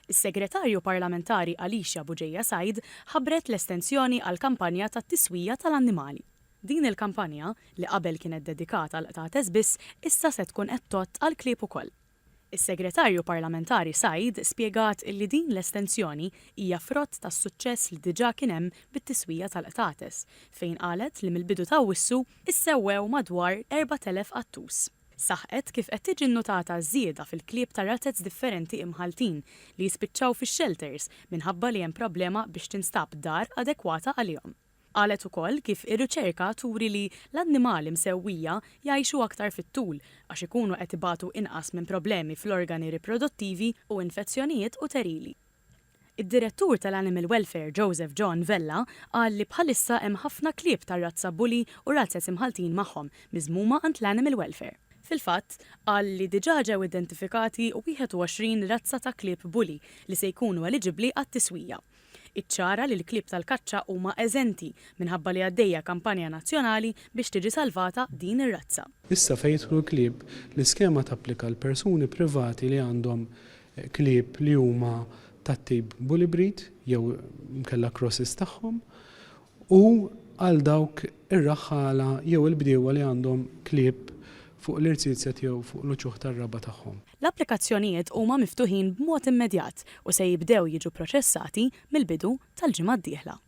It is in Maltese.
Is-Segretarju Parlamentari Alicia Bugeja Said ħabbret l-estensjoni għall-kampanja tat-tiswija tal-annimali. Din il-kampanja, li qabel kienet dedikat għall-qtates biss, issa se tkun qed tgħodd għall-klieb ukoll. Is-Segretarju Parlamentari Said spjegat li din l-estensjoni hija frott tas-suċċess li diġà kien hemm bit-tiswija tal-qtates, fejn qalet li mill-bidu t'Awwissu issewwew madwar 4,000 qattus. Saħqet kif qed tiġi nnutata żieda fil-klieb ta' razez differenti imħalltin li jispiċċaw fix-xelters minħabba li hemm problema biex tinstab dar adekwata għalihom. Qalet ukoll kif ir-riċerka turi li l-annimali msewwija jgħixu aktar fit-tul għax ikunu qed ibatu inqas minn problemi fl-organi riproduttivi u infezzjonijiet uterili. Id-Direttur tal-Animal Welfare Joseph John Vella qal li bħalissa hemm ħafna klieb tar-razza Bully u Razzez imħalltin magħhom, miżmuma għand l-Animal Welfare. Fil-fatt, qal li diġà ġew identifikati 21 razza ta' klieb Bully li se jkunu eliġibbli għat-tiswija. Iċċara li l-klieb tal-kaċċa huma eżenti minħabba li għaddejja kampanja nazzjonali biex tiġi salvata din ir-razza. Issa fejn jidħlu l-klieb, l-iskema tapplika għal persuni privati li għandhom klieb li huma tat-tip bully breed jew inkella crosses tagħhom, u għal dawk ir-raħħala jew il-bdiewa li għandhom klieb fuq l-irziezet jew fuq l-uċuħ tar-raba' tagħhom. L-applikazzjonijiet huma miftuħin b'mod immedjat u se jibdew jiġu pproċessati mill-bidu tal-ġimgħa d-dieħla.